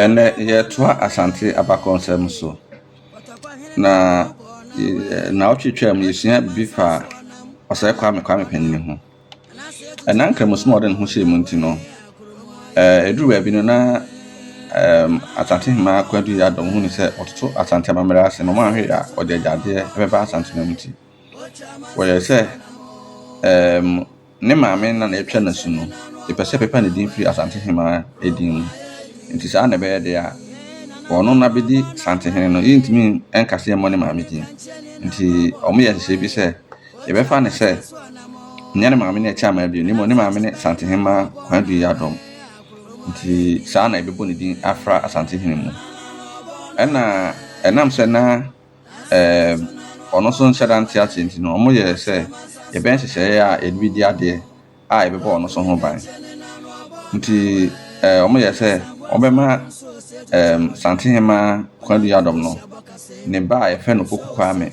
Ɛnnɛ yɛretoa Asante abakɔnsɛm so, na nnawɔtwe twaa mu yɛsua biribi fa ɔsɛe Kwame Kwame Panyin ho. Ɛna nkramosim a ɔde ne ho hyɛɛ mu nti no, ɛduru baabi no na Asante Hemmaa Kwadu Yadom hu ne sɛ ɔtoto Asante amammerɛ ase na wɔanhwɛ a ɔde agyadeɛ bɛba Asante no nti, wɔyɛɛ sɛ Ne maame na na ɛtwa n'asu no, epɛ sɛ ɛpepa ne din firi Asantehemaa din mu. Enti saa na ɛbɛyɛ de a, wɔno no abɛdi Santehene no, yɛntumi nka sɛ yɛmmɔ ne maame din. Enti wɔyɛ nhyehyɛe bi sɛ, yɛbɛfa no sɛ nyɛ ne maame ne Akyeamaa Adui, na mmom ne maame ne Santehemaa Kwaadu Adom. Enti saa na yɛbɛbɔ ne din afra Asantehene mu. Ɛna ɛnam sɛ na. wɔn nso nhyɛ da nte aseɛ nti no, wɔyɛɛ sɛ yɛbɛyɛ nhyehyɛeɛ a yɛde bɛdi adeɛ a ɛbɛbɔ wɔn nso ho ban. Nti wɔyɛɛ sɛ wɔbɛma um, Santehema Kwadu Yadom no, ne ba a yɛfrɛ no Poku Kwame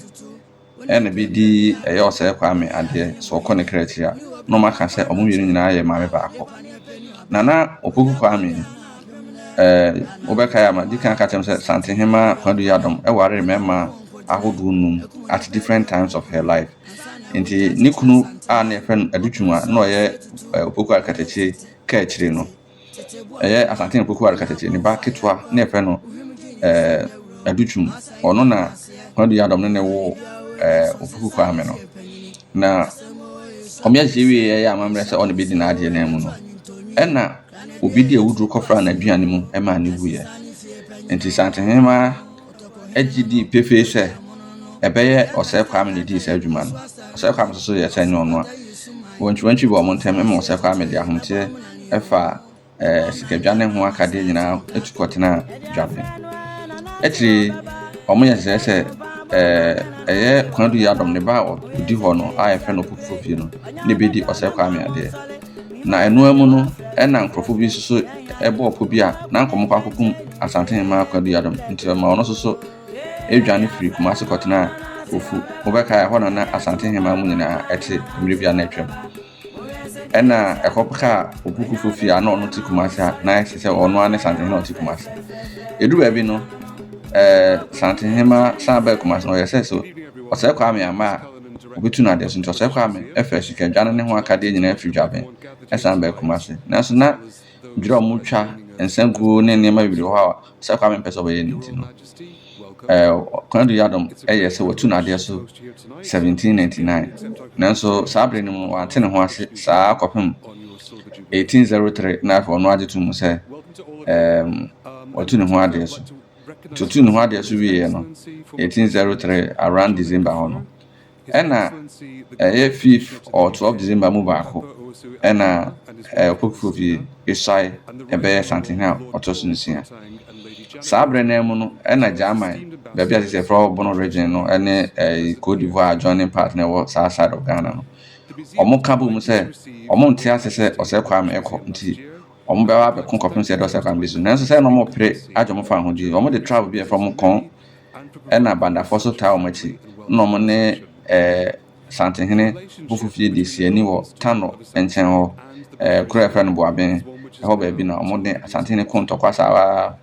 ɛna bɛdi ɛyɛ ɔsɛe Kwame adeɛ sɛ ɔkɔ ne kra akyiri a, na wɔaka sɛ wɔn mmienu nyinaa yɛ maame baako. Na na Opoku Kwame ɛɛ wobɛkae a, madi kan aka kyerɛ mo sɛ Santehema Kwadu Yiadom waree mmarima ahodoɔ nnum at different times of her life. Nti ne kunu a na yɛfrɛ no Adu Twum a na ɔyɛ ɛɛ Opoku Arekatakye kaa akyire no, ɛyɛ Asante Opoku Arekatakye ne ba ketewa na yɛfrɛ no ɛɛ Adu Twum. Ɔno na Kwadu Yiadom ne ne wo ɛɛ Opoku Kwame no. Na wɔn yɛ wie yɛ amammerɛ sɛ ɔne bɛdi n'adeɛ no mu no, ɛna obi de awuduro kɔfraa n'aduane mu maa no wuiɛ. Enti Asante Hemaa gye dii pefee sɛ ɛbɛyɛ Ɔsɛe Kwame na ɛdii saa dwuma no. Ɔsɛe Kwame nso so yɛɛ sɛ ɛnyɛ ɔno a. Wɔntwiwantwi bɔɔ wɔn ntam ma Ɔsɛe Kwame de ahometeɛ ɛfa ɛɛ sikadwane ho akadeɛ nyinaa atu kɔtenaa dwabɛn. Akyire yi, wɔyɛ nhyehyɛeɛ sɛ ɛɛ ɛyɛ Kwadu Yadom ne ba a ɔdi hɔ no a yɛfrɛ no Opokufoɔ fie no na ɛbɛdi Ɔsɛe Kwame adeɛ. Na ɛno ara mu no, ɛna nkurɔfo bi nso so bɔɔ pɔ bi a na anka wɔkɔ akɔkum Asante Hemmaa Kwadu Yadom. Nti ɔma ɔno nso so dwane firi Kumase kɔtenaa Ofu. Wobɛkae ɛhɔ na na Asante Hemmaa mu nyinaa ɛte mmerɛ bi a na atwam. Ɛna ɛhɔ kaa Opukufo fie a na ɔno te Kumase a na ɛte sɛ ɔno ara ne Asante Hemmaa ɔte Kumase. Ɛdu baabi no, ɛɛ Asante Hemmaa san baa Kumase no ɔyɛ sɛ so ɔsɛe Kwame Amaa Obetu no ade so. Nti Ɔsɔre Kwame ɛfɛ sikadwa no ne ho akadeɛ nyinaa firi Dwaben ɛsan baa Kumasi. Nanso na dwerɛ a wɔn twa nsa guo ne nneɛma bebree wɔ hɔ a Ɔsɔre Kwame mpɛ sɛ ɔbɛyɛ no nti no ɛɛ Konadu Yiadom ɛyɛɛ sɛ watu no adeɛ so 1799. Nanso saa bere no mu wante ne ho ase saa kɔpem 1803 na afei ɔno ara gye to mu sɛ ɛɛm watu ne ho adeɛ so. tutu ne ho adeɛ so wieɛ no 1803 around December hɔ no ɛna ɛyɛ 5th or 12 December mu baako ɛna ɔpɔpifo fie Isai ɛbɛyɛ santen a ɔtɔ so nsia saa berɛ no mu no ɛna German baabi a sɛ frɛ Bono region no ɛne Cote d'Ivoire adjoining part na ɛwɔ saa side of Ghana no wɔn ka bɔ mu sɛ wɔn nte ase sɛ ɔsɛ Kwame ɛkɔ nti Wɔbɛba abɛko kɔpem sɛ ɛdɔɔso kwan bi so. Nanso sɛ na wɔpere agye wɔn fa ahodwiri. Wɔde trap bi a ɛfa wɔn kɔn ɛna bandafoɔ so taa wɔn akyi na wɔn ne ɛɛ Santehene Bofofie di siani wɔ Tano nkyɛn hɔ ɛɛ kuro a ɛfrɛ no Boaben ɛhɔ baabi na wɔn ne Asantehene ko ntɔkwa saa ara.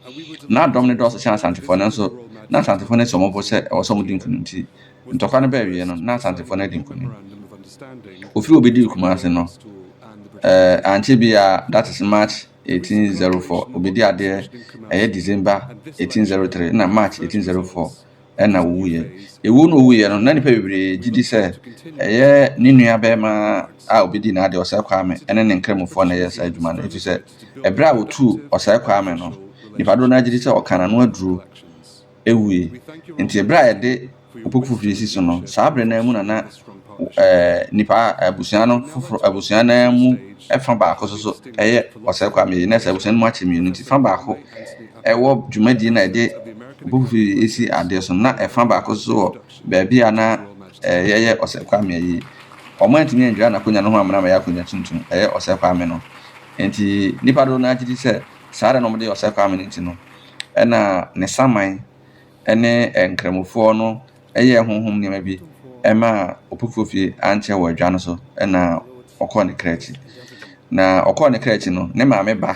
Na dɔm no dɔɔso kyɛn Asantefoɔ nanso na Asantefoɔ no asi wɔn bo sɛ ɛwɔ sɛ wɔdi nkunim nti Ntɔkwa no bɛɛwie no na Asantefoɔ no adi nkonim. Ofiri a obedii Kumasi no, eh, ankyɛ biara, that is March 1804, obedi adeɛ ɛyɛ December 1803 na March 1804 ɛna owuiɛ. Ewuo no owuiɛ no, na nipa bebree gye di sɛ ɛyɛ ne nua bɛɛma a obedi n'adeɛ Ɔsɛe Kwame ɛne ne nkramofoɔ na ɛyɛ saa adwuma no efiri sɛ ɛberɛ a otuu Ɔsɛe Kwame no, nipa dodoɔ no ara gye di sɛ ɔkaa n'ano aduro wui. Enti bere a yɛde ɔpɔku foforo asi so no, saa bere no ara mu na na nnipa abusua no foforo abusua no ara mu fa baako nso so yɛ ɔsɛe kwa mmea. Na sɛ abusua no mu akyɛ mmienu nti, fa baako wɔ dwumadie na ɛde ɔpɔku foforo yi asi adeɛ so, na ɛfa baako nso wɔ baabi a na yɛyɛ ɔsɛe kwa mmea yi. Wɔn antumi andwira n'akonnwa no ho amena ma ɛyɛ akonnwa tuntum, ɛyɛ ɔsɛe kwa ame no. Enti nnipa dodow no ara gye di sɛ saa ara na wɔde yɛ ɔsɛe kwa ame no nti no, ɛna ne saman ne nkramofoɔ no yɛɛ honhom nneɛma bi maa ɔpofoɔ fie ankyɛ wɔ adwa no so na ɔkɔɔ ne kra akyi. Na ɔkɔɔ ne kra akyi no, ne maame ba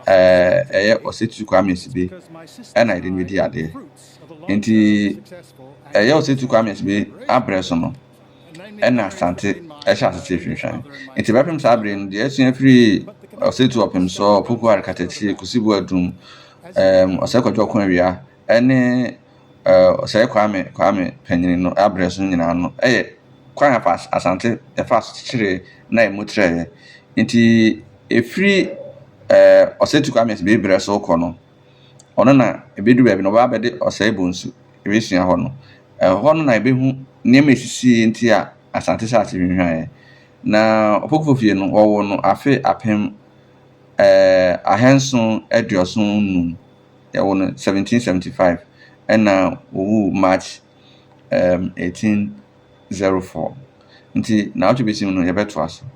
ɛyɛ Ɔsatu Kwame Asibe ɛna ɛde no bɛdi adeɛ. Nti ɛyɛ Ɔsatu Kwame Asibe abrɛ so no, ɛnna Asante hyɛɛ ase sii hwehwɛn. Enti bɛpem saa bere yi no, deɛ asua firii Ɔsatu Ɔpemsoɔ, Opoku Arekatakyie, Kusibu Adum, ɛɛm, Ɔsɛe Kwadwo Ɔkoawia, ne ɛɛ Ɔsɛe Kwame Kwame Panyin no abrɛ so no nyinaa no yɛ kwan afa Asante yɛfaa so kyekyeree na ɛmu trɛeɛ. Enti ɛfiri ɛɛ Ɔsatu Kwame Asibiayi berɛ so rekɔ no, Ɔno na ɛbɛduru baabi no, ɔbɛba abɛde Ɔsɛe Bonsu abɛsua hɔ no. Ɛhɔ no na yɛbɛhu nneɛma a ɛsisii nti a Asante hyɛɛ ase hwinhwaeɛ. Na Opokuo fie no, wɔwoo no afe apem ahanson aduɔson nnum, yɛwoo no seventeen seventy five, ɛna ɔwuu March eighteen zero four. Nti nnawɔtwe bɛsi mu no, yɛbɛtoa so.